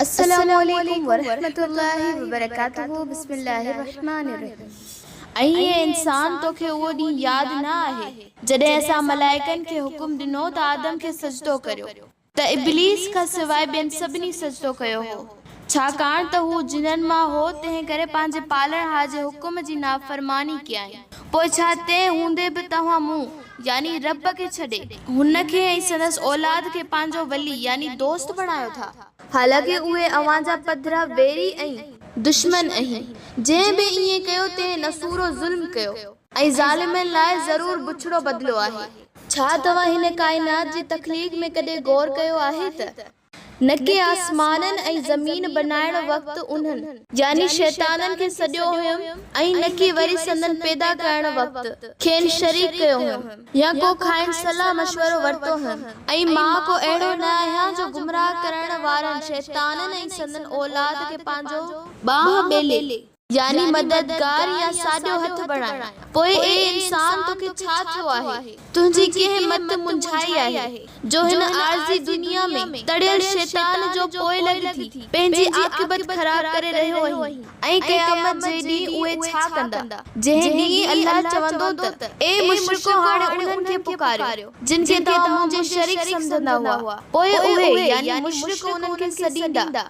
السلام عليڪم ورحمة الله وبرڪاته بسم الله الرحمٰن الرحيم ۽ اي انسان توکي اهو ڏينهن ياد نه آهي جڏهن اسان ملائڪن کي حڪم ڏنو ته آدم کي سجدو ڪريو ته ابليس کان سواء ٻين سڀني سجدو ڪيو هو ڇاڪاڻ ته هو جنن مان هو، تنهن ڪري پنهنجي پالڻهار جي حڪم جي نافرماني ڪيائين. پوء ڇا تنهن هوندي به توهان مون، يعني رب کي ڇڏي، هن کي ۽ سندس اولاد کي پنهنجو ولي، يعني دوست بڻايو ٿا؟ حالانڪه اهي اوهان جا پڌرا ويري ۽. دشمن اهين. جنهن به ائين ڪيو، تنهن نسورو ظلم ڪيو. ۽ ظالمن لاء ضرور بڇڙو بدلو آهي. ڇا توهان هن ڪائنات جي تخليق ۾ ڪڏهن غور ڪيو آهي ته. نڪي آسمانن ۽ زمين بنائڻ وقت انهن. يعني شيطانن کي سڏيو هيم ۽ نڪي وري سندن پيدا ڪرڻ وقت کين شريڪ ڪيو هيم يا ڪو کانئن صلاح مشورو ورتو هيم ۽ مان ڪو اهڙو نه آهيان جو گمراهه ڪرڻ وارن شيطانن ۽ سندن اولاد کي پنهنجو بانهه ٻيلي يعني مددگار يا ساڄو هٿ بڻايان. پوء اي انسان توکي ڇا ٿيو آهي؟ تنهنجي ڪنهن مت منجهائي آهي، جو هن عارضي دنيا ۾ تڙيل شيطان جو پوئلڳ ٿي، پنهنجي عاقبت خراب ڪري رهيو آهين؟ ۽ قيامت جي ڏينهن اهي ڇا ڪندا؟ جنهن ڏينهن الله چوندو ته، اي مشرڪو هاڻي انهن کي پڪاريو، جن کي توهان منهنجي شريڪ سمجهندا هئا. پوء اهي، يعني مشرڪ، انهن کي سڏيندا.